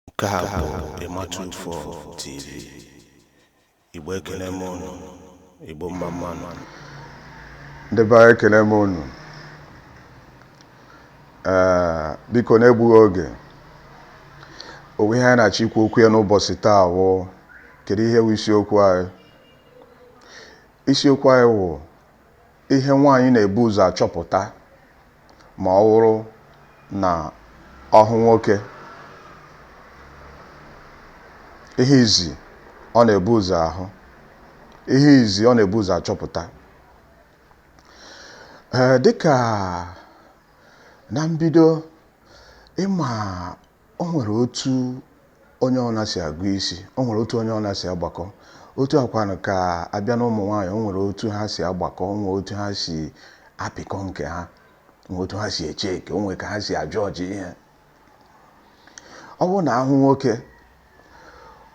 Nke a bụ Ịmatụfọ TV. Igbo ekele m unu, Igbo mma mma nụ. Ndị be anyị ekele m unu ee biko na-egbughị oge o nwee ihe anyị na-achọ ikwu okwu ya n'ụbọchị taa wụ kedu ihe wụ isiokwu anyị isiokwu anyị wụ Ihe nwaanyị na-ebu ụzọ achọpụta ma ọ wụrụ na ọ hụ nwoke. Ihe izi ọ na-ebu ụzọ ahụ. Ihe izi ọ na-ebu ụzọ achọpụta. Ee, dịka na mbido ị ma o nwere otu onye ọna si agụ isi o nwere otu onye ọna si agbakọ otu a kwanụ ka a bịa na ụmụ nwaanyị o nwere otu ha si agbakọ o nwee otu ha si apịkọ nke ha nwee otu ha si echeck o nwee ka ha si ajudge ihe ọ bụrụ na ha hụ nwoke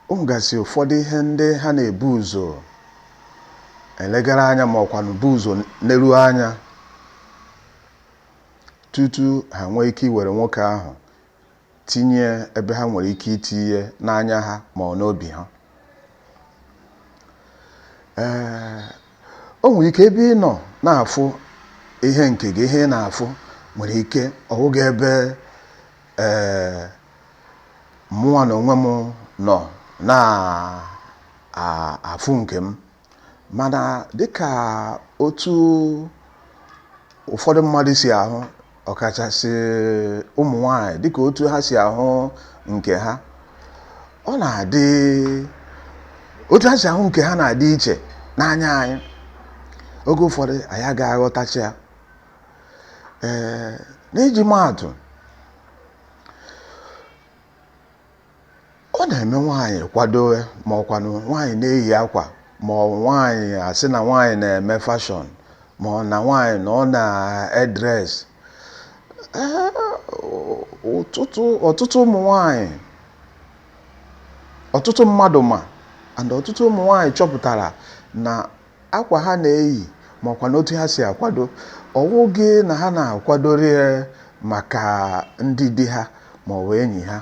o nwegasị ụfọdụ ihe ndị ha na-ebu ụzọ elegara anya ma ọkwanụ bu ụzọ neruo anya tutu ha nwee ike iwere nwoke ahụ tinye ebe ha nwere ike itinye n'anya ha ma ọ n'obi ha ee o nwere ike ebe ị nọ na-afụ ihe nke gị ihe ị na-afụ nwere ike ọ wụghị ebe ee mụnwa na onwe m nọ na-afụ nke m mana dịka otu ụfọdụ mmadụ si ahụ ọkachasị ụmụ nwanyị dịka otu ha si ahụ nke ha ọ na-adị otu ha si ahụ nke ha na-adị iche n'anya anyị oge ụfọdụ anyị agaghị aghọtacha ya ee n'iji maatụ Ọ na-eme nwaanyị kwadoe ma ọkwanụ nwaanyị na-eyi akwa ma ọ nwaanyị a sị na nwaanyị na-eme fashion ma ọ na nwaanyị na ọ na-edress ọtụtụ ụmụ nwaanyị ọtụtụ mmadụ ma and ọtụtụ ụmụ nwaanyị chọpụtara na akwa ha na-eyi ma ọkwanụ otu ha si akwado ọ wụghị na ha na-akwadori maka ndị di ha ma ọ bụ enyi ha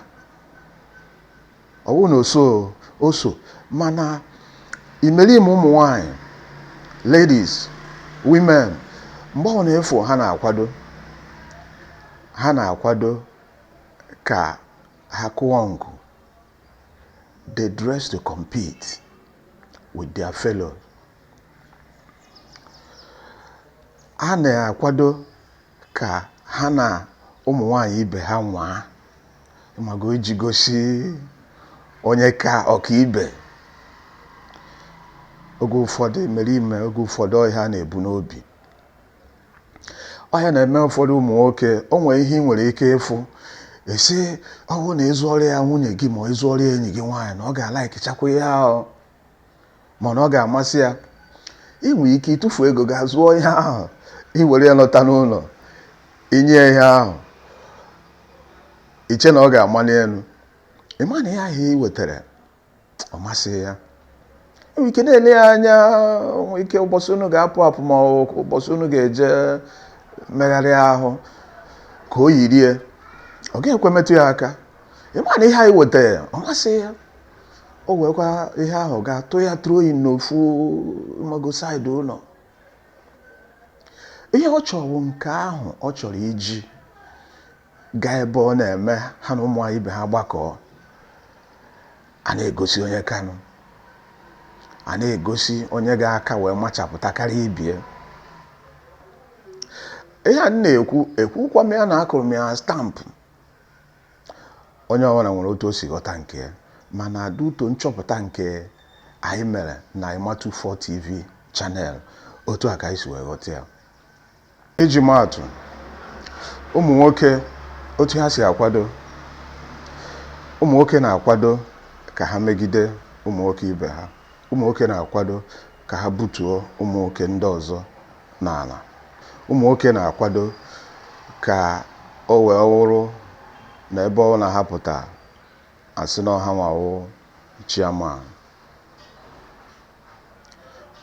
ọ wụ na o so o so mana imerime ụmụ nwanyị ladies women mgbe ọ bụna ị fụ ha na-akwado ha na-akwado ka ha kụọ nkụ they dress to compete with their fellows. ha na-akwado ka ha na ụmụ nwanyị ibe ha nwaa mago iji gosi onye ka ọkaibe oge ụfọdụ mere ime oge ụfọdụ ọ ihe ha na-ebu n'obi ọ ya na-eme ụfọdụ ụmụ nwoke o nwere ihe ị nwere ike ịfụ ị sị ọ wụ na ịzụọrọ ya nwunye gị ma ịzụọrọ ya enyi gị nwaanyị na ọ ga-alikechakwa ihe ahụ ma na ọ ga-amasị ya ị nwere ike ịtụfu ego gaa zụọ ihe ahụ i were ya lọta n'ụlọ i nye ihe ahụ i chee na ọ ga-amali elu ị ma na ihe ahụ ị wetara ọ masịghị ya i nwere ike na-ele ya anya nwere ike ụbọchị unu ga-apụ apụ ma ụbọchị unu ga-eje megharịa ahụ ka o yirie ọ ga-ekwe metụ ya aka ị ma na ihe ahụ ị wetara ọ masị ya o weekwa ihe ahụ gaa tụ ya throw ya n'ofu mago side ụlọ ihe ọ chọrọ nke ahụ ọ chọrọ iji gaa ebe ọ na-eme ha na ụmụ nwaanyị ibe ha gbakọọ a na-egosi onye kanụ a na-egosi onye ga-aka wee machapụta karịa ibie ihe a m na-ekwu ekwukwa m ya na akụrụ m ya stamp onye ọbụla nwere otu o si ghọta nke ya mana due to nchọpụta nke anyị mere na Emma24 TV channel otu a ka anyị si wee ghọta ya Iji maa atụ, ụmụ nwoke otu ha si akwado ụmụ nwoke na-akwado ka ha megide ụmụ nwoke ibe ha ụmụ nwoke na-akwado ka ha butuo ụmụ nwoke ndị ọzọ n'ala ụmụ nwoke na-akwado ka o wee wụrụ na ebe ọbụla ha pụta a sị na ọ hanwa wụ chairman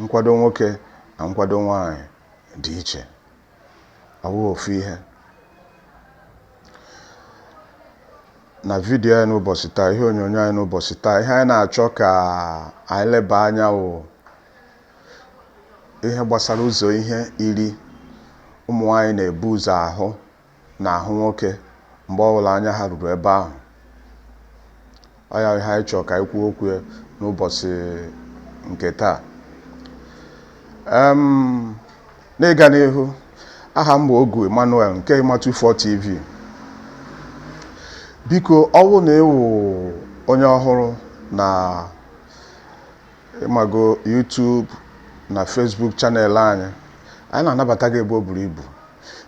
nkwado nwoke na nkwado nwaanyị dị iche ọ bụghị ofu ihe na video anyị n'ụbọchị taa ihe onyonyo anyị n'ụbọchị taa ihe anyị na-achọ ka anyị leba anya wụ ihe gbasara ụzọ ihe iri ụmụ nwaanyị na-ebu ụzọ ahụ n'ahụ nwoke mgbe ọbụla anya ha ruru ebe ahụ ọ ya ihe anyị chọrọ ka anyị kwuo okwu n'ụbọchị nke taa n'ịga n'ihu aha m bụ Ogu Emmanuel nke Emma24 TV biko ọ bụrụ na ị wụ onye ọhụrụ na ịmago YouTube na Facebook channel anyị anyị na-anabata gị ebe o buru ibu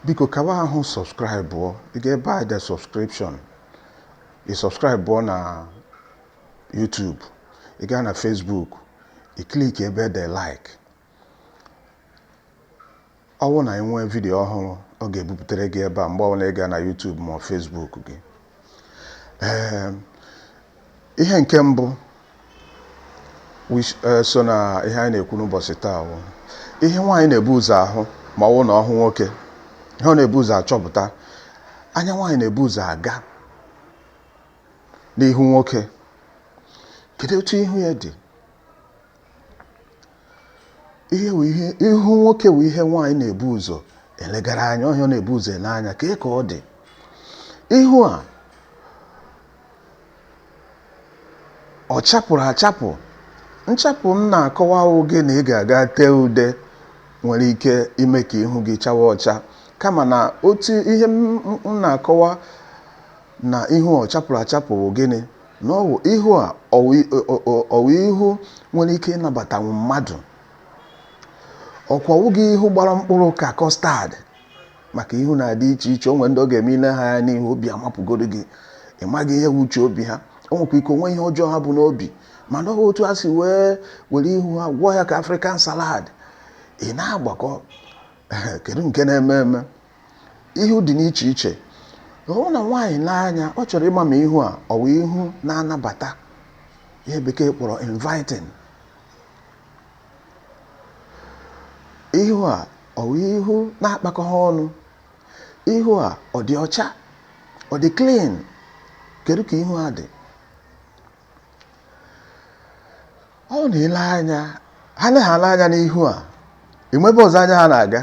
biko kawa ahụ subscribe ị ga ebe anyị de subscription ị subscribe na YouTube ị gaa na Facebook ị click ebe de like Ọ bụrụ na anyị nwee vidiyo ọhụrụ ọ ga-ebupụtara gị ebe a mgbe ọbụla ị gaa na YouTube ma Facebook gị ee ihe nke mbụ e, so na ihe anyị na-ekwu n'ụbọchị taa bụ ihe nwaanyị na-ebu ụzọ ahụ ma ọ bụrụ na ọ hụ nwoke ihe ọ na-ebu ụzọ achọpụta anya nwaanyị na-ebu ụzọ aga n'ihu nwoke kedu otu ihu ya dị ihu nwoke wụ ihe nwaanyị na-ebu ụzọ elegara anya ọ wụ ihe ọ na-ebu ụzọ ele anya kee ka ọ dị ihu a ọ chapụrụ achapụ nchapụ m na-akọwa awụghị na ị ga-aga tee ude nwere ike ime ka ihu gị chawa ọcha kama na otu ihe m na-akọwa na ihu ọ chapụrụ achapụ bụ gịnị na ọ wụ ihu a ọ wụ i- ọ- ọ- ọ- ọ wụ ihu nwere ike ịnabatanwu mmadụ ọkwa ọ wụghị ihu gbara mkpụrụ ka custard maka ihu na-adị iche iche o nwee ndị ọ ga-eme i lee ha anya n'ihu obi amapụgoro gị ị maghị ihe wụ uche obi ha o nwekwa ike o nwee ihe ọjọọ ha bu n'obi mana ọ bụ otu a si wee were ihu ha gwọọ ya ka African salad ị na-agbakọ kedu nke na-eme eme Ihu dị n'iche iche. Ọ bụrụ na nwaanyị lee anya, ọ chọrọ ịma ma ihu a ọ wụ ihu na-anabata ihe bekee kpọrọ inviting. Ihu a ọ wụ ihu na-akpakọghị ọnụ. Ihu a ọ dị ọcha? Ọ dị clean? Kedu ka ihu a dị? ọ na-ele anya ha na-ele anya n'ihu a e nwee ebe ọzọ anya ha na-aga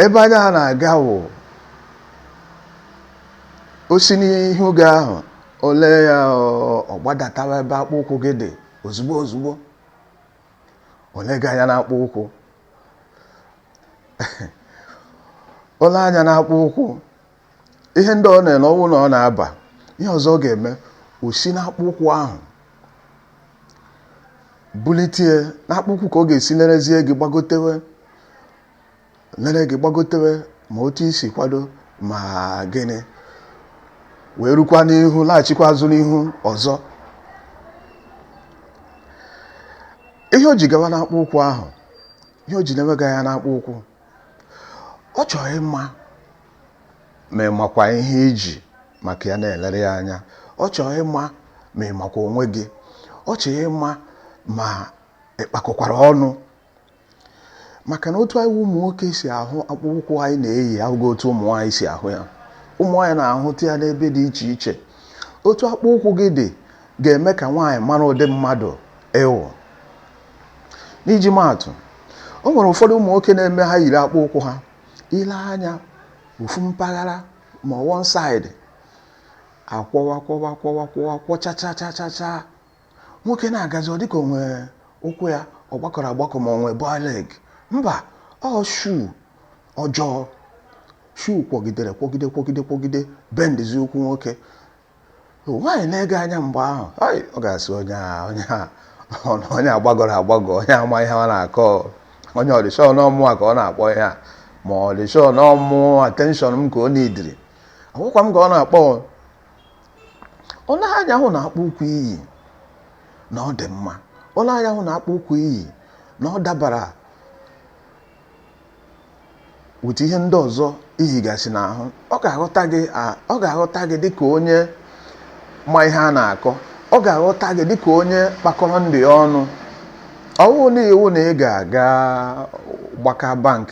ebe anya ha na-aga wụ o si n'ihu gị ahụ o lee ya ọ gbadatawa ebe akpụ ụkwụ gị dị ozugbo ozugbo o lee gị anya n'akpụ ụkwụ o lee anya n'akpụ ụkwụ ihe ndị ọ na-ele ọ wụ na ọ na-aba ihe ọzọ ọ ga-eme o si n'akpụ ụkwụ ahụ bulitie n'akpụ ụkwụ ka ọ ga-esi nerezie gị gbagotewe nere gị gbagotewe ma otu i si kwado ma gịnị wee rukwa n'ihu laghachikwa azụ n'ihu ọzọ ihe o ji gawa n'akpụ ụkwụ ahụ ihe o ji na-ewega anya n'akpụ ụkwụ ọ chọrọ ịma ma ị makwa ihe iji maka ya na-elere ya anya ọ chọọ ịma ma ị makwa onwe gị ọ chọọ ịma ma ị kpakọkwara ọnụ maka na otu anyị ụmụ nwoke si ahụ akpụkpọ ụkwụ anyị na-eyi awụghị otu ụmụ nwaanyị si ahụ ya ụmụ nwaanyị na-ahụta ya n'ebe dị iche iche otu akpụ ụkwụ gị dị ga-eme ka nwaanyị mara ụdị mmadụ ị wụ n'iji maa atụ o nwere ụfọdụ ụmụ nwoke na-eme ha yiri akpụ ụkwụ ha i lee anya ofu mpaghara ma ọ one side akwọwa kwọwa kwọwa kwọwa kwọchachachachacha nwoke na-agazi ọ dịka o nwe ụkwụ ya ọ gbagọrọ agbagọ ma o nwee bow leg mba ọ shoe ọjọọ shoe kwọgidere kwọgide kwọgide kwọgide bendizie ụkwụ nwoke nwaanyị na-ele gị anya mgbe ahụ ọ ga-asị onye a onye a onye gbagọrọ agbagọ onye ama ihe a na-akọ onye ọ dị sure na ọ mụwa ka ọ na-akpọ ihe a ma ọ dị sure na ọ wụ attention m ka ọ needịrị ọ wụkwa m ka ọ na-akpọ o lee anya hụ na akpụ ụkwụ i yi na ọ dị mma o lee anya hụ na akpụ ụkwụ i yi na ọ dabara with ihe ndị ọzọ i yigasị n'ahụ ọ ga-aghọta gị ọ ga-aghọta gị dịka onye ma ihe a na-akọ ọ ga-aghọta gị dịka onye kpakọrọ ndụ ya ọnụ ọ wụghị iwu na ị ga-aga gbaka bank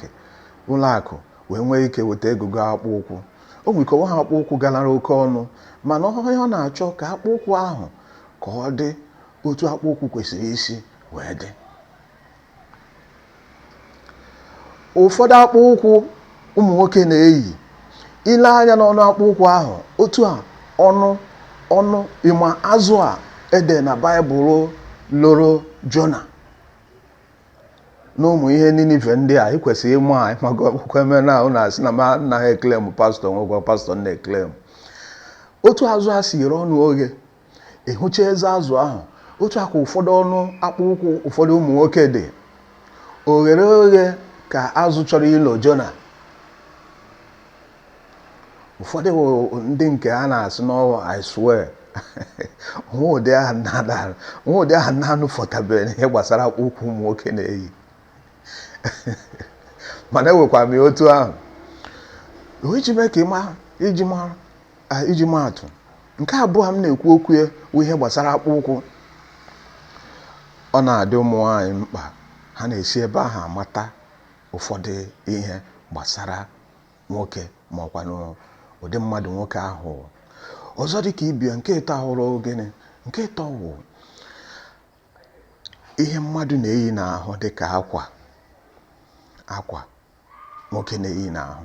ụlọ akụ wee nwee ike weta ego goo akpụ ụkwụ o nwere ike ọ wụghị akpụ ụkwụ galara oke ọnụ mana ọ wụ ihe ọ na-achọ ka akpụ ụkwụ ahụ ka ọ dị otu akpụ ụkwụ kwesịrị isi wee dị ụfọdụ akpụ ụkwụ ụmụ nwoke na-eyi i lee anya n'ọnụ akpụ ụkwụ ahụ otu a ọnụ ọnụ ị ma azụ a e dere na baịbụl loro jona na ụmụ ihe ninive ndị a ị kwesịrị ịma a ịmago akwụkwọ eme na ahụ na-asị na m anaghị eclaim pastor nwekwa pastor na-eclaim otu azụ a si ghere ọnụ oghe ị hụcha eze azụ ahụ otu a ka ụfọdụ ọnụ akpụ ụkwụ ụfọdụ ụmụ nwoke dị o ghere oghe ka azụ chọrọ ilo jona ụfọdụ ndị nke a na-asị na ọ wụ i swear nwa ụdị ahụ na-adara nwa ụdị ahụ na-anụfọtabeghị n'ihe gbasara akpụ ụkwụ ụmụ nwoke na-eyi mana ewekwa m ya otu ahụ o iji mee ka ị ma iji mara Ah, iji maa atụ nke abụọ m na-ekwu okwu ya bụ ihe gbasara akpụ ụkwụ ọ na-adị ụmụ nwaanyị mkpa ha na-esi ebe ahụ amata ụfọdụ ihe gbasara nwoke ma ọ kwanụ ụdị mmadụ nwoke ahụ wụ. ọzọ dị ka ibe ya nke ịtọ awụrụ gịnị nke ịtọ wụ ihe mmadụ na-eyi n'ahụ dị ka akwa akwa nwoke na-eyi n'ahụ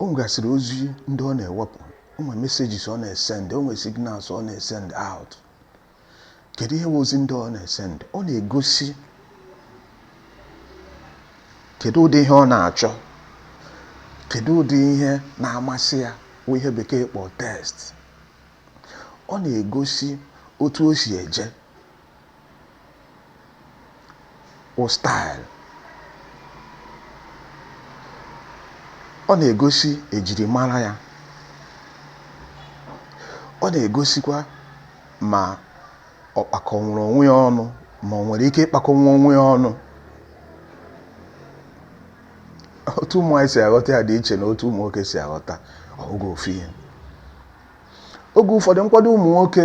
O nwegasịrị ozi ndị ọ na-ewepụ, o nwere messages ọ na-esend, o nwere signals ọ na-esend out. Kedu ihe bụ ozi ndị ọ na-esend? Ọ na-egosi kedu ụdị ihe ọ na-achọ, kedu ụdị ihe na-amasị ya bụ ihe bekee kpọ taste. Ọ na-egosi otu o si eje. wụ style. Ọ na-egosi ejirimara ya. Ọ na-egosikwa ma ọ kpakọnwuru onwe ya ọnụ ma o nwere ike ịkpakọnwu onwe ya ọnụ. Otu ụmụ nwaanyị si aghọta ya dị iche na otu ụmụ nwoke si aghọta ọ bụghị ofu ihe. Oge ụfọdụ nkwado ụmụ nwoke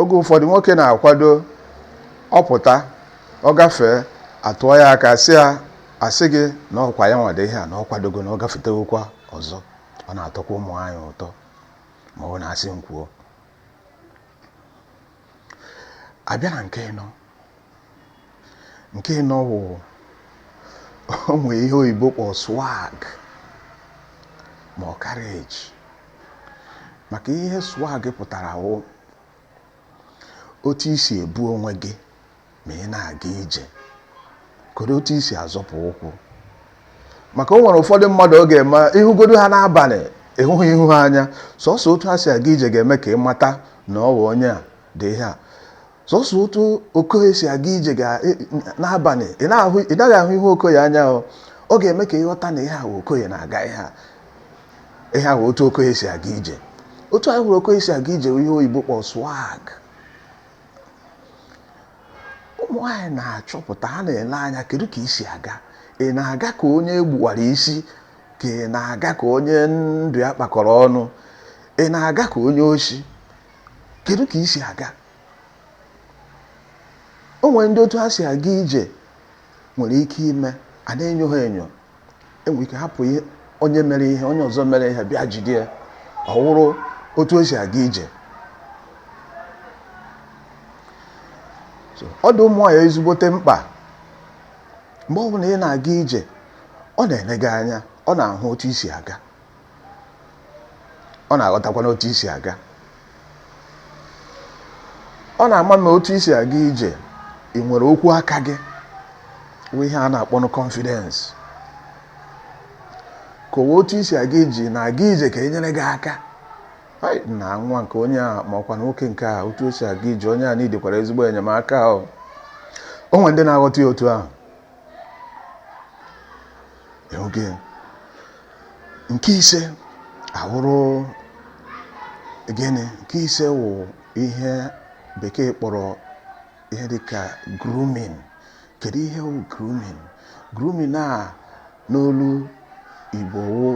oge ụfọdụ nwoke na-akwado ọ pụta ọ gafee atụọ ya aka sị ya asị gị na ọ wụkwa ya nwa dị ihe a na ọ kwadogo na ọ gafetewokwa ọzọ ọ na-atọkwa ụmụ nwaanyị ụtọ ma ọ bụ na asị m kwuo a bịa na nke ịnọ nke ịnọ wụ o nwee ihe oyibo kpọ swag ma ọ carriage maka ihe swag pụtara wụ otu i si ebu onwe gị ma ị na-aga ije kedu otu i si azọpụ ụkwụ maka o nwere ụfọdụ mmadụ ọ ga-eme ị hụgodu ha n'abalị ị hụghị ihu ha anya sọsọ otu ha si aga ije ga-eme ka ị mata na ọ bụ onye a dị ihe a sọsọ otu okoye si aga ije ga- e- n'abalị ị na-ahụ- ị naghị ahụ ihu okoye anya ọ ọ ga-eme ka ị ghọta na ihe a wụ okoye na-aga ihe a ihe a wụ otu okoye si aga ije otu anyị hụrụ okoye si aga ije wụ ihe oyibo kpọrọ swag ụmụ nwaanyị na-achọpụta ha na-ele anya kedu ka i si aga ị na-aga ka onye e gbuwara isi ka ị na-aga ka onye ndụ ya kpakọrọ ọnụ ị na-aga ka onye oshi kedu ka i si aga o nwere ndị otu ha si aga ije nwere ike ime a na-enyo ha enyo e nwere ike hapụ onye mere ihe onye ọzọ mere ihe bịa jide ya ọ wụrụ otu o si aga ije ọ dị ụmụ nwaanyị ezigbote mkpa mgbe ọbụla ị na-aga ije ọ na-ele gị anya ọ na-ahụ otu i si aga ọ na-aghọtakwa n'otu i si aga ọ na-ama na otu i si aga ije ị nwere okwu aka gị bụ ihe a na-akpọ na confidence ka ọ wụ otu i si aga ije ị na-aga ije ka e nyere gị aka na nwa nke onye a ma ọkwa nwoke nke a otu o si aga ije onye a needikwara ezigbo enyemaka o o nwere ndị na-aghọta ya otu ahụ oge nke ise awụrụ gịnị nke ise wụ ihe bekee kpọrọ ihe dịka grooming kedu ihe wụ grooming grooming a n'olu igbo wụ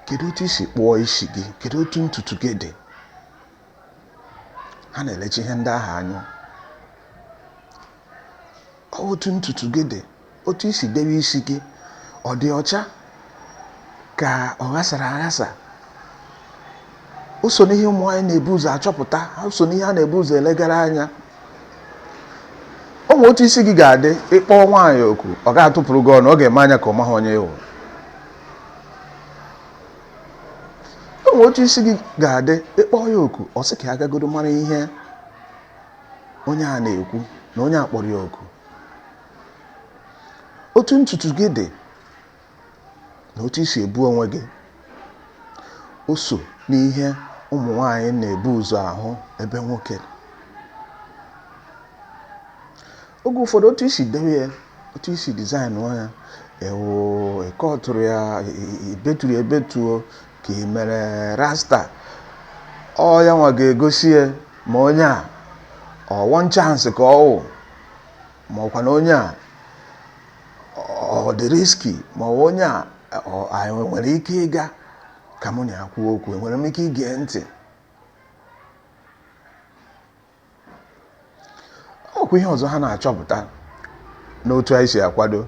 kedu otu i si kpụọ isi gị kedu otu ntutu gị dị ha na-elecha ihe ndị ahụ anya otu ntutu gị dị otu i si debe isi gị ọ dị ọcha ka ọ ghasara aghasa o so n'ihe ụmụ nwaanyị na-ebu ụzọ achọpụta o so n'ihe a na-ebu ụzọ elegara anya o nwere otu isi gị ga-adị ị kpọọ nwaanyị oku ọ ga-atụpụrụ gị ọnụ ọ ga-eme anya ka ọ maghị onye ị wụ o nwere otu isi gị ga-adị ị kpọọ ya oku ọ sị ka ya gagodo mara ihe onye a na-ekwu na onye a kpọrọ ya oku otu ntutu gị dị na otu i si ebu onwe gị o so n'ihe ụmụ nwanyị na-ebu ụzọ ahụ ebe nwoke oge ụfọdụ otu i si dewe ya otu i si design ya ọ wụ ị kọtụrụ ya i beturu ya ebetu o ka ị mere rasta ọ ya nwa ga-egosi ya ma onye a ọ one chance ka ọ wụ ma ọkwa na onye a ọ dị risky ma ọ onye a enwere m ike ịga ka mụ na ya kwuo okwu enwere m ike ige ntị ọkwa ihe ọzọ ha na-achọpụta n'otu anyị si akwado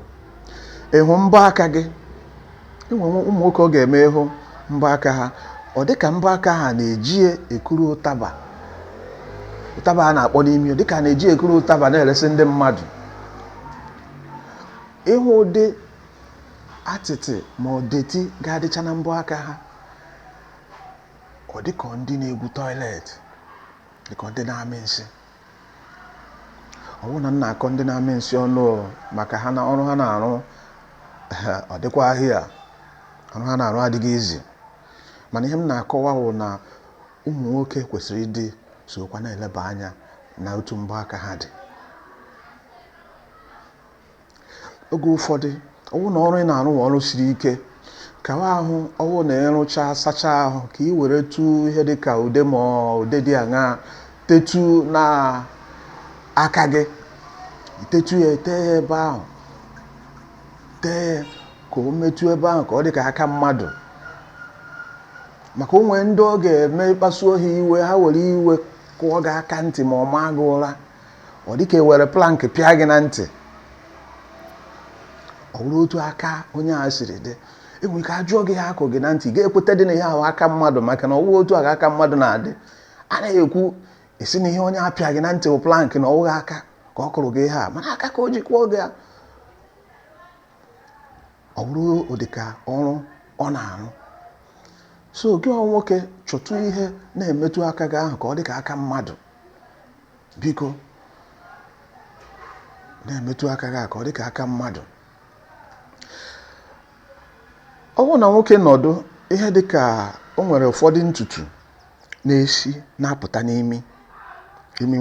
ịhụ mbọ aka gị e nwe ụmụ nwoke ọ ga-eme ị hụ mbọ aka ha ọ dị ka mbọ aka ha na-eji ekuru ụtaba ụtaba a na-akpọ n'imi dị ka na-eji ekuru ụtaba na-eresi ndị mmadụ ị hụ ụdị atịtị ma ọ dirty ga-adịcha na mbọ aka ha ọ dị ka ndị na-egwu toilet dịka ndị na-amị nsị ọ wụghị na m na-akọ ndị na-amị nsị ọnụ maka ha na ọrụ ha na-arụ ọ dịkwa ahịa ọrụ ha na-arụ adịghị easy mana ihe m na-akọwa wụ na ụmụ nwoke kwesịrị ịdị sokwa na-eleba anya na otu mbọ aka ha dị oge ụfọdụ ọ wụ na ọrụ ị na-arụ wụ ọrụ siri ike kawa ahụ ọ wụ na ị rụcha sacha ahụ ka ị weretu ihe dị ka ude ma ude dị aṅa tetu na aka gị i tetu ya ete ya ebe ahụ tee ya ka o metụ ebe ahụ ka ọ dị ka aka mmadụ maka o nwe ndị ọ ga-eme ị kpasuo ha iwe ha were iwe kụọ gị aka ntị ma ọ maa gị ụra ọ dịka e were plank pịa gị na ntị ọ bụrụ otu aka onye a siri dị e nwere ike ajụọ gị ihe a kụ gị na ntị ga-ekwetadị na ihe ahụ aka mmadụ maka na ọ wụghị otu aka mmadụ na-adị a na-ekwu asị na ihe onye a pịa gị na ntị bụ plank na ọ wụghị aka ka ọ kụrụ gị ihe a mana aka ka o ji kụọ gị ọ bụrụ ụdịka ọrụ ọ na-arụ so gị nwoke chọtụ ihe na-emetụ aka gị ahụ ka ọ dị ka aka mmadụ biko na-emetụ aka gị ka ọ dịka aka mmadụ ọ bụrụ na nwoke nọdụ ihe dịka o nwere ụfọdụ ntutu na-esi na-apụta n'imi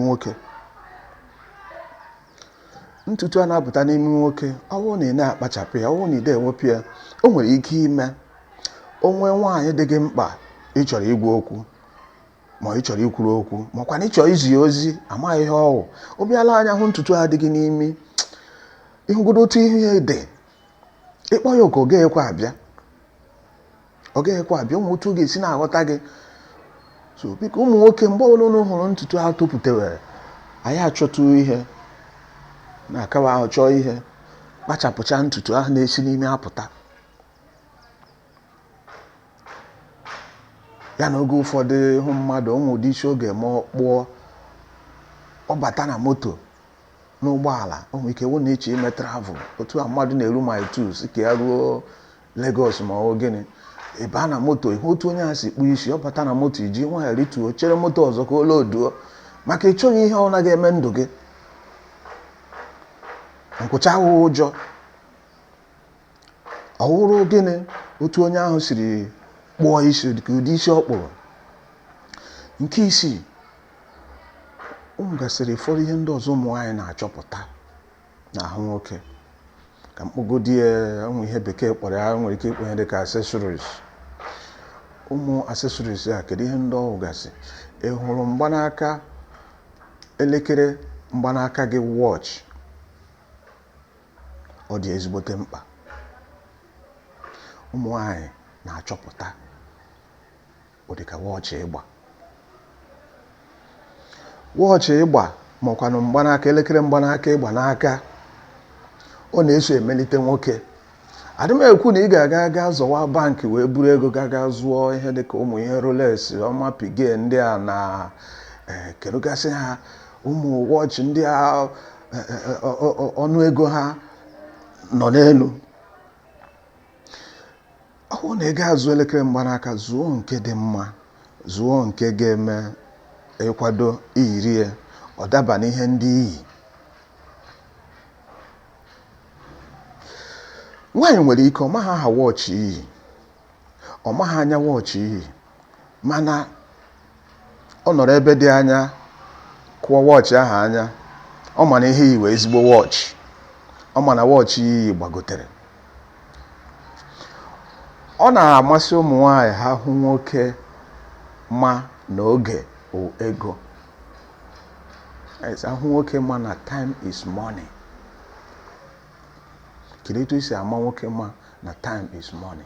nwoke ntutu a na-apụta n'imi nwoke ọ bụrụ na ị na-akpachapụ ya ọ bụrụ na i de ewepụ ya o nwere ike ime o nwe nwaanyị dị gị mkpa ị chọrọ ịgwa okwu ma ị chọrọ ikwuru okwu makwa na ị chọrọ izi ozi amaghị ihe ọ wụ ọ bịa lee anya hụ ntutu a dị gị n'imi ịhụgodo otu ihe a dị ị kpọọ ya oku ọ gaghịkwa abịa ọ gaghịkwa abịa ọ wụ otu ọ ga-esi na-aghọta gị so biko ụmụ nwoke mgbe ọbụla unu hụrụ ntutu ahụ topụtewere anyị achọtụ ihe na-akawa ahụ chọọ ihe kpachapụcha ntutu ahụ na-esi n'imi apụta ya na oge ụfọdụ ị hụ mmadụ o nwe ụdị isi ọ ga-eme ọ kpụọ ọ bata na moto n'ụgbọala o nwere ike wụ na ị chọ ime travel otu a mmadụ na-eru Mile Two sị ka ya ruo Lagos ma ọ gịnị ị baa na moto ị hụ otu onye a si kpụọ isi ọ bata na moto i ji nwayọ rituo chere moto ọzọ ka o loduo maka ị chọghị ihe ọ na-aga eme ndụ gị nkwụcha awụghị ụjọ Ọ wụrụ gịnị otu onye ahụ siri kpụọ isi dịka ụdị isi ọ kpụrụ nke isii o nwegasịrị ụfọdụ ihe ndị ọzọ ụmụ nwaanyị na-achọpụta n'ahụ nwoke ka m kpọgodi ya ụmụ ihe bekee kpọrọ ya nwere ike ịkpọ ya dịka accessories ụmụ accessories a kedu ihe ndị ọ wụgasị ị hụrụ mgbanaka elekere mgbanaka gị watch ọ dị ezigbote mkpa ụmụ nwanyị na-achọpụta ụdịka wọọchị ị gba wọọchị ị gba makwanụ mgbanaka elekere mgbanaka ị gba n'aka ọ na-eso emelite nwoke adị m ekwu na ị ga-aga aga zọwa bankị wee buru ego gaga zụọ ihe dịka ụmụ ihe Rolex Audemars Piguet ndị a na eh, kerugasị ha ụmụ wọọchị ndị a ọnụ ego ha nọ n'elu ọ bụrụ na ị ga-azụ elekere mgbanaka zụọ nke dị mma zụọ nke ga-eme ị kwado i yiri ya ọ daba n'ihe ndị i yi nwaanyị nwere ike ọ maghị aha wọchị i yi ọ maghị anya wọchị i yi mana ọ nọrọ ebe dị anya kụọ wọchị ahụ anya ọ ma na ihe i yi wụ ezigbo wọchị ọ ma na wọchị i yi gbagotere ọ na-amasị ụmụ nwanyị ha hụ nwoke ma na oge wụ ego a hụ nwoke ma na time is money kedu etu i si ama nwoke ma na time is money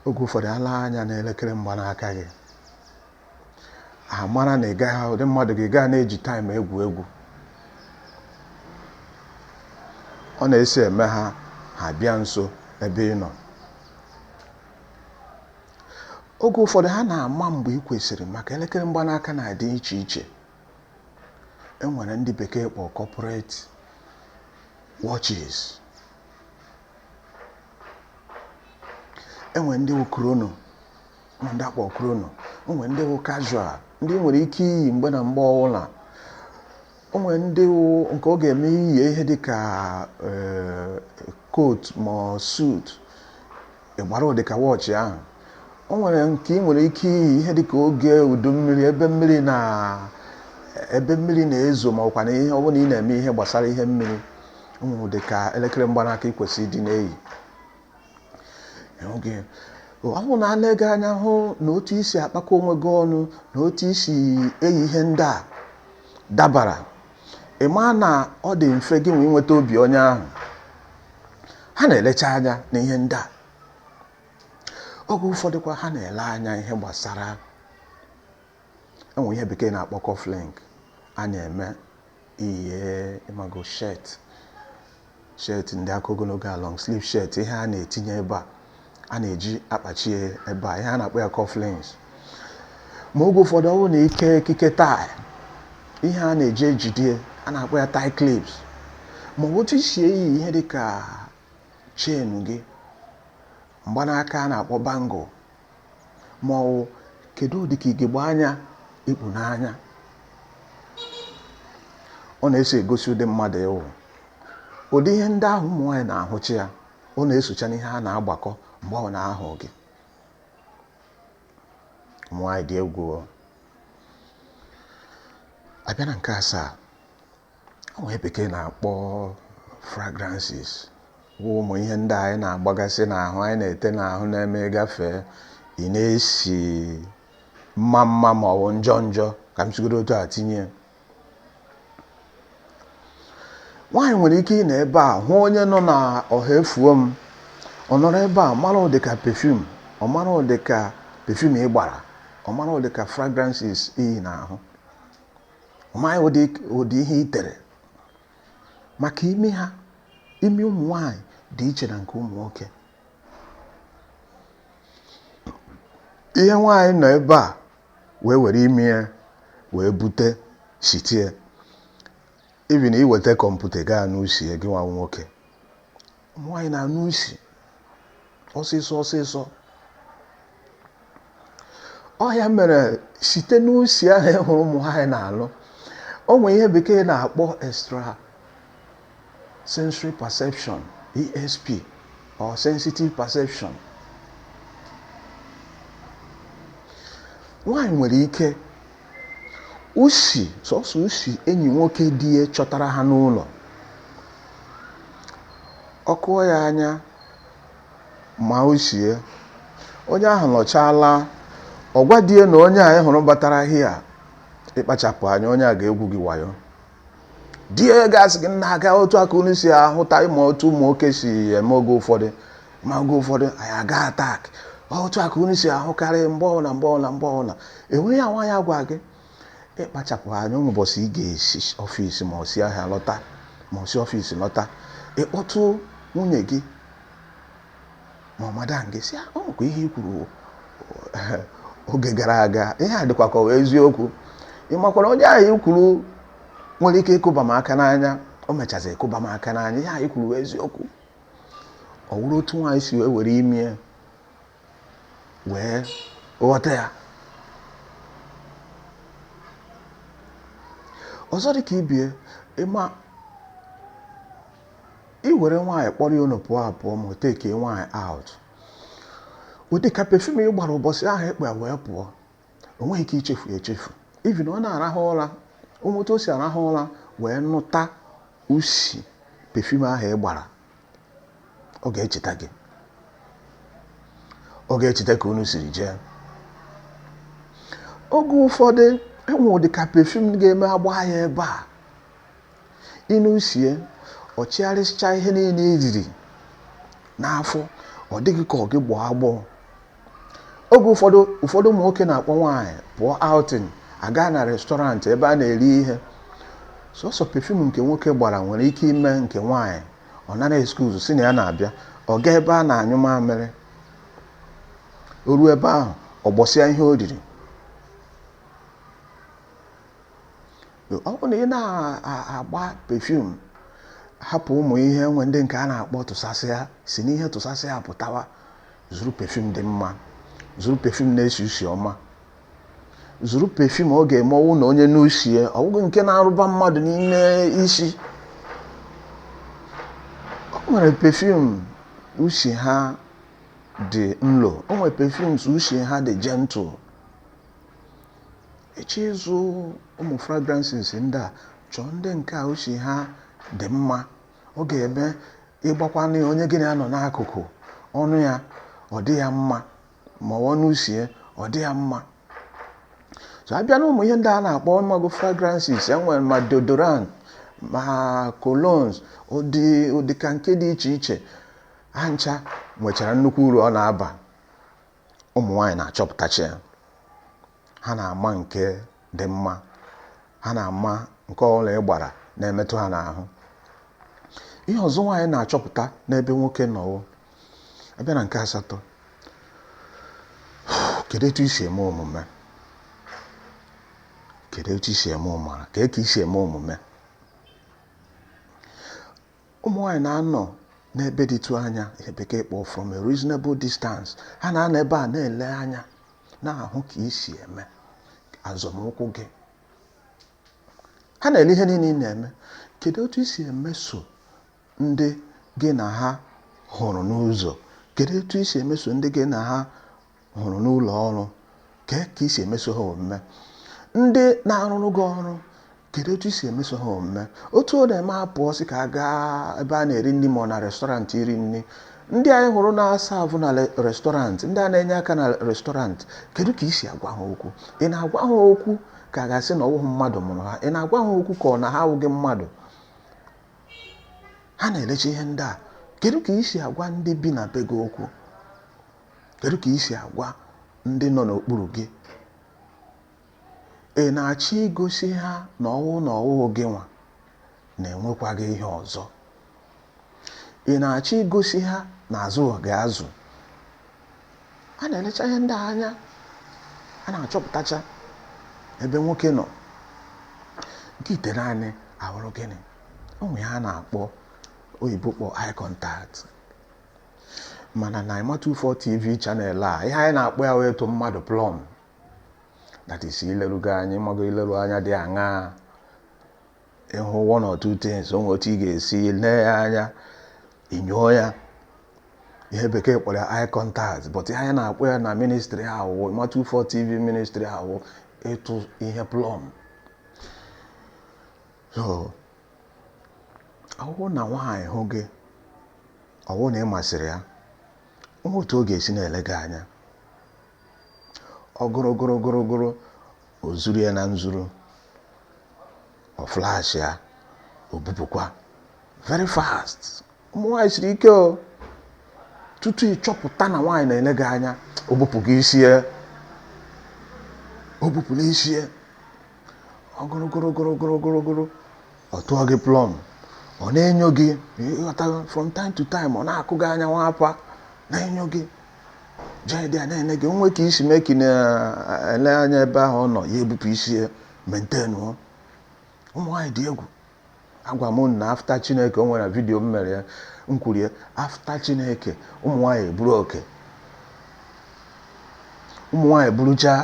oge ụfọdụ ha lee anya na elekere mgbanaka gị amara na ị gaghị ụdị mmadụ gị gaa na-eji time egwu egwu ọ na-esi eme ha ha bịa nso ebe ị nọ oge ụfọdụ ha na-ama mgbe ị kwesịrị maka elekere mgbanaka na-adị iche iche enwere ndị bekee kpọ corporate watches enwere ndị wụ chrono ma ndị a kpọ chrono onwere ndị wụ casual ndị ị nwere ike iyi mgbe na mgbe ọbụla onwere ndị wụ nke ọ ga-eme i yi ihe dị ka eh, coat ma suit ị gbara ụdị ka wọchị ahụ o nwere nke ị nwere ike iyi ihe dịka oge udu mmiri ebe mmiri na-ezo ma ọkwa na ihe ọ bụla ị na-eme ihe gbasara ihe mmiri o nwere ụdị ka elekere mgbanaka ị kwesịrị ịdị na-eyi ọ bụrụ na ha lee gị anya hụ na otu i si akpakọ onwe gị ọnụ na otu i si eyi ihe ndị a dabara ị maa na ọ dị mfe gị inwe inweta obi onye ahụ ha na-elecha anya na ihe ndị a oge ụfọdụkwa ha na-ele anya ihe gbasara enwe ihe bekee na-akpọ cufflink a na-eme i yie ị mago shirt Shirt ndị aka ogologo a long sleeve shirt ihe a na-etinye ebe a a na-eji akpachi ebe a ihe a na-akpọ ya cufflinks ma oge ụfọdụ ọ bụrụ na i kee ekike tie ihe a na-eji ejide ya na-akpọ ya tie clips ma ọ bụ otu i si eyi ihe dị ka chain gị mgbanaka a na-akpọ bangle ma ọ wụ kedu ụdị ka ugegbe anya i kpu n'anya ọ na-eso egosi ụdị mmadụ ị wụ ụdị ihe ndị ahụ ụmụ nwaanyị na-ahụcha ya ọ na-esocha n'ihe a na-agbakọ mgbe ọ na-ahụ gị ụmụ nwaanyị dị egwu a bịa na nke asaa onye bekee na-akpọ fragrances bụ ụmụ ihe ndị anyị na-agbagasị n'ahụ anyị na-ete n'ahụ na-eme gafee ị na-esi mma mma ma ọ bụ njọ njọ ka m sigodu otu a tinye nwaanyị nwere ike ịnọ ebe a hụ onye nọ na ọha efuo m ọ nọrọ ebe a mara ụdị ka perfume ọ mara ụdị ka perfume ị gbara ọ mara ụdị ka fragrances i yi n'ahụ ọ mara ụdị ihe i tere maka imi ha imi ụmụ nwanyị dị iche na nke ụmụ nwoke ihe nwaanyị nọ ebe a wee were imi ya wee bute shitie even i weta kọmputa gaa anụ usi ya gị nwa nwoke ụmụ nwaanyị na-anụ isi ọsịsọ ọsịsọ ọ ya mere site n'usi ahụ ị hụrụ ụmụ nwaanyị na-anụ o nwere ihe bekee na-akpọ extra sensory perception ESP or sensitive perception nwaanyị nwere ike usi, sọsọ usi enyi nwoke di ya chọtara ha n'ụlọ. Ọ kụọ ya anya ma usi ya. Onye ahụ nọchaa laa, ọ gwa di ya na onye a ị hụrụ batara here, ị kpachapụ anya, onye a ga-egwu gị wayo. di ya ga-asị gị nna aga otu a ka unu si ahụta ị ma otu ụmụ nwoke si eme oge ụfọdụ ma oge ụfọdụ anyị aga atak otu a ka unu si ahụkarị mgbe ọbụla mgbe ọbụla mgbe ọbụla enweghị ya nwaanyị agwa gị ị kpachapụ anya o nwe ụbọchị ị ga-esi ọfịs ma ọ si ahịa lọta ma ọ si ọfịs lọta ị kpọtụ nwunye gị ma ọ madam gị sị ah, ọ kwa ihe i kwuru oge gara aga ihe a dịkwa ka ọ wụ eziokwu ị makwara onye ahụ i kwuru nwere ike ịkụba m aka n'anya o mechazi ịkụba m aka n'anya ihe ahụ i kwuru wụ eziokwu ọ wụrụ otu nwaanyị si wee were imi ya wee ghọta ya ọzọ dị ka ibe ya ị ma i were nwaanyị kpọrọ ya unu pụọ apụọ ma ọ takee nwaanyị out ụdị ka perfume ị gbara ụbọchị ahụ ị kpọ ya wee pụọ o nweghị ike ichefu ya echefu even ọ na-arahụ ụra o nwee otu o si arahụ ụra wee nụta usi perfume ahụ ị gbara ọ ga-echeta gị ọ ga-echeta ka unu siri jee oge ụfọdụ e nwee ụdị ka perfume ga-eme a gbaa ya ebe a Ị nụ usi ya, ọ chịgharịsịchaa ihe niile i riri n'afọ, ọ dị gị ka ọ gị gbọọ agbọọ. Oge ụfọdụ, ụmụ nwoke na-akpọ nwaanyị pụọ outing, a gaa na restaurant ebe a na-eri ihe. Sọsọ perfume nke nwoke gbara nwere ike ime nke nwaanyị ọ nara excuse sị na ya na-abịa, ọ gaa ebe a na-anyụ mamịrị. O ruo ebe ahụ, ọ gbọsịa ihe o riri. ọ bụrụ na ị na-agba perfume hapụ ụmụ ihe nwe ndị nke a na-akpọ tụsasịa si n'ihe tụsasịa pụtawa zụrụ perfume dị mma zụrụ perfume na-esi usi ọma zụrụ perfume ọ ga-eme ọ wụ na onye nụ usi ya ọ bụghị nke na-arụba mmadụ n'ime isi o nwere perfume usi ha dị nlo o nwere perfumes usi ha dị gentle ị chọọ ịzụ ụmụ fragrances ndị a chọọ ndị nke a usi ha dị mma ọ ga-eme ị gbakwanụ ya onye gị na ya nọ n'akụkụ ọ nụ ya ọ dị ya mma ma ọ ọ nụ usi ya ọ dị ya mma so a bịa n'ụmụ ihe ndị a na-akpọ ma ọ bụ fragrances e nwere ma deodorant ma colognes ụdị ka nke dị iche iche ha ncha nwechara nnukwu uru ọ na-aba ụmụ nwaanyị na-achọpụtacha ya ha na-ama nke dị mma ha na-ama nke ọbụla ị gbara na-emetụ ha n'ahụ ihe ọzọ nwaanyị na-achọpụta n'ebe nwoke nọ wụ a bịa na nke asatọ kedu etu i si eme omume kedu etu i si eme omume kee ka i si eme omume ụmụ nwaanyị na-anọ n'ebe dịtụ anya ihe bekee kpọọ from a reasonable distance ha na-anọ ebe a na-ele anya na-ahụ ka i si eme azọmụkwụ gị ha na-ele ihe niile ị na-eme kedu otu i si emeso ndị gị na ha hụrụ n'ụzọ kedu otu i si emeso ndị gị na ha hụrụ n'ụlọ ọrụ kee ka i si emeso ha omume ndị na-arụrụ gị ọrụ kedu otu i si emeso ha omume otu ọ na-eme a pụọ sị ka a gaa ebe a na-eri nri ma ọ na restọrantị iri nri ndị anyị hụrụ na-asavụ na restọrantị ndị a na-enye aka na restọrantị kedu ka i si agwa ha okwu ị na-agwa ha okwu ka a ga-asị na ọ wụghị mmadụ mụrụ ha ị na-agwa ha okwu ka ọ na ha awụghị mmadụ ha na-elecha ihe ndị a kedu ka i si agwa ndị bi na be gị okwu Kedu ka i si agwa ndị nọ n'okpuru gị? Ị na-achọ igosi ha na ọ wụ na ọ wụghị gị nwa na e nwekwaghị ihe ọzọ? Ị na-achọ igosi ha na a zụghị gị azụ? A na-elecha ihe ndị a anya a na-achọpụtacha ebe nwoke nọ nke itenaanị awụrụ gịnị o nwe ihe a na-akpọ oyibo kpọ eye contact mana na ịma 24 tv channel a ihe anyị na-akpọ ya wụ ịtụ mmadụ plọm that is ileru gị anya ị mago ileru anya dị aṅaa ị hụ one or two things o nwe otu ị ga-esi lee ya anya i nyoo ya ihe bekee kpọrọ ya eye contact but ihe anyị na-akpọ ya na ministry a wụ ịma 24 tv ministry a wụ ịtụ ihe plọm ọ wụ na nwaanyị hụ gị ọ wụ na ị masịrị ya o nwe otu ọ ga-esi na-ele gị anya ọ gụrụ gụrụ gụrụ gụrụ o zuru ya na nzuru ọ flash ya o bupụkwa very fast ụmụ nwaanyị siri ike o tutu ị chọpụta na nwaanyị na-ele gị anya o bupụgo isi ya o bupụla isi ya ọgụrụgụrụgụrụgụrụgụrụ ọ tụọ gị plọm ọ na-enyo gị ị ghọtago from time to time ọ na-akụ gị anya nwa akwa na-enyo gị jide ya na-ene gị nwee ka i si mee ka ị na-ele anya ebe ahụ ọ nọ ya ebupụ isi ya maintain ọ ụmụ nwaanyị dị egwu agwa m na after chineke o nwere vidiyo m mere ya m kwuru ya after chineke ụmụ nwaanyị eburu oke ụmụ nwaanyị buruchaa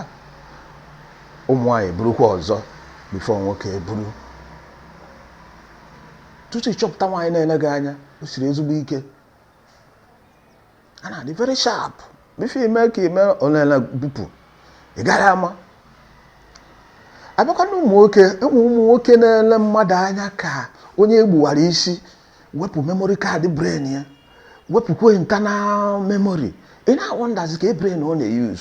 ụmụ nwaanyị eburukwa ọzọ before nwoke eburu tutu ị chọpụta nwaanyị na-ele gị anya o siri ezigbo ike ha na-adị very sharp before i me ka i me o nela bupụ ị gaghị ama a bịakwa na ụmụ nwoke enwe ụmụ nwoke na-ele mmadụ anya ka onye e gbuwara isi wepụ memory card brain ya wepụkwa internal memory ị na-awọndazi kee brain ọ na-eyuz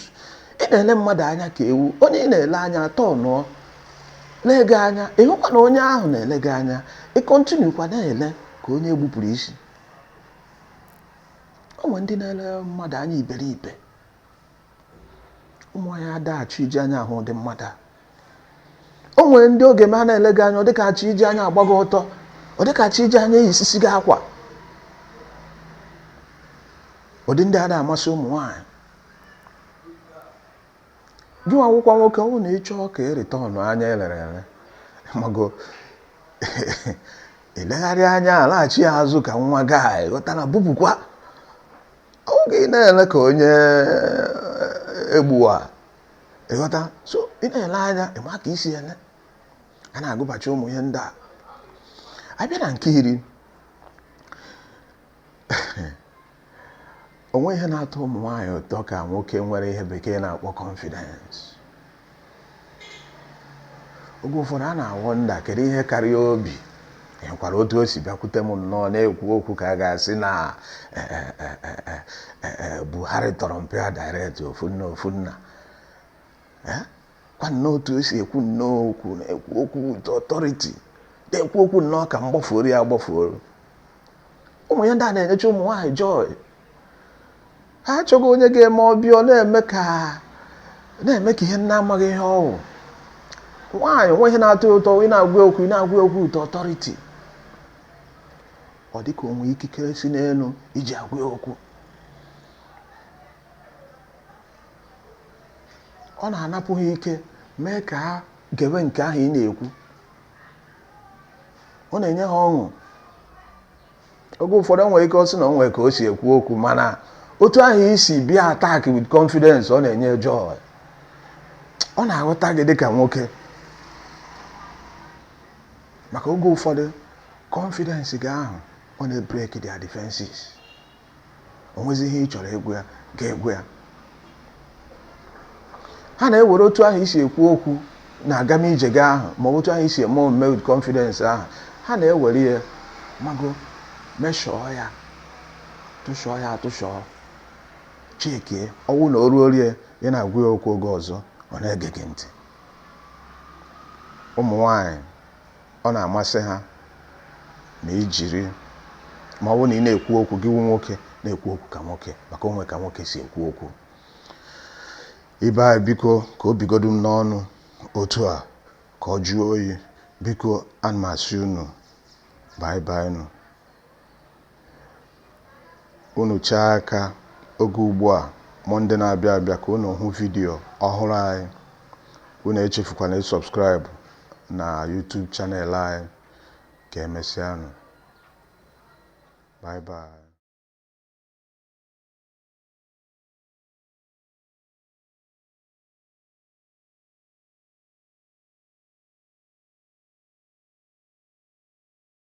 ị na-ele mmadụ anya ka ewu onye ị na-ele anya atọnụọ lee gị anya ị hụkwa na onye ahụ na-ele gị anya ị kọntinukwa na-ele ka onye e gbupụrụ isi o nwere ndị na-ele mmadụ anya iberibe ụmụ nwaanyị adaghị achọ iji anya ahụ ụdị mmadụ a o nwere ndị oge ma ha na-ele gị anya ọ dịka a chọ iji anya agba gị ọtọ ọ dịka a chọ iji anya eyisisi gị akwa ụdị ndị a adaghị amasị ụmụ nwaanyị Gị nwa wụkwa nwoke, ọ bụrụ na ị chọọ ka ị rịta ọnụ anya elere ele, ma gị legharịa anya alaghachi ya azụ ka nwa gị ghọta na bupụkwa oge ị na-ele ka onye egbuwa ịghọta so ị na-ele anya ị ma ka i si ele ya na-agụbachi ụmụ ihe ndị a a bịa na nke iri o nweghị ihe na-atọ ụmụ nwaanyị ụtọ ka nwoke nwere ihe bekee na-akpọ confidence oge ụfọdụ ha na-awọnda kedu ihe kara ya obi ịhụkwara otu o si bịakwute m nnọọ na-ekwu okwu ka a ga-asị na eh, eh, eh, Buhari tọrọ mpa ya direct ofu nne ofu nna kwa nnọọ otu o si ekwu nnọọ okwu na-ekwu okwu with authority na-ekwu okwu nnọọ ka mgbafuoru ya agbafuoru ụmụ ihe ndị a na-enyecha ụmụ nwaanyị joy ha achọghị onye ga-eme ọ bịa ọ na-eme ka na-eme ka ihe na-amaghị ihe ọ wụ nwaanyị nwe ihe na-atọ ya ụtọ ị na-agwa okwu ị na-agwa okwu with authority ọ dịka o nwe ikikere si n'elu i ji agwa ya okwu ọ na-anapụ ha ike mee ka ha gewe nke ahụ ị na-ekwu ọ na-enye ha ọṅụ oge ụfọdụ o nwere ike ọ sị na o nwere ka o si ekwu okwu mana otu ahụ i si bịa attack with confidence ọ na-enye joy ọ na-aghọta gị dịka nwoke maka oge ụfọdụ confidence gị ahụ ọ na-ebreak their defenses o nwezi ihe ị chọrọ ịgwa ya gị agwa ya ha na-ewere otu ahụ i si ekwu okwu na agam ije gị ahụ ma otu ahụ i si eme omume with confidence ahụ ha na-ewere ya mago meshọọ ya tụshọọ ya atụshọọ chekie ọ wụ na o ruo rie ya na-agwa ya okwu oge ọzọ ọ na-ege gị ntị ụmụ nwanyị Ọ na-amasị ha na i jiri ma ọ wụ na ị na-ekwu okwu gị wụ nwoke na-ekwu okwu ka nwoke maka o nwe ka nwoke si ekwu okwu ibe anyị biko ka o bigodu m n'ọnụ otu a ka ọ jụọ oyi biko ana m asị unu bye bye nụ unu chaa aka oge ugbu a mọnde na-abịa abịa ka unu hụ vidiyo ọhụrụ anyị unu echefukwana ịsọbskraịbụ na YouTube channel anyị ka emesịanụ bye bye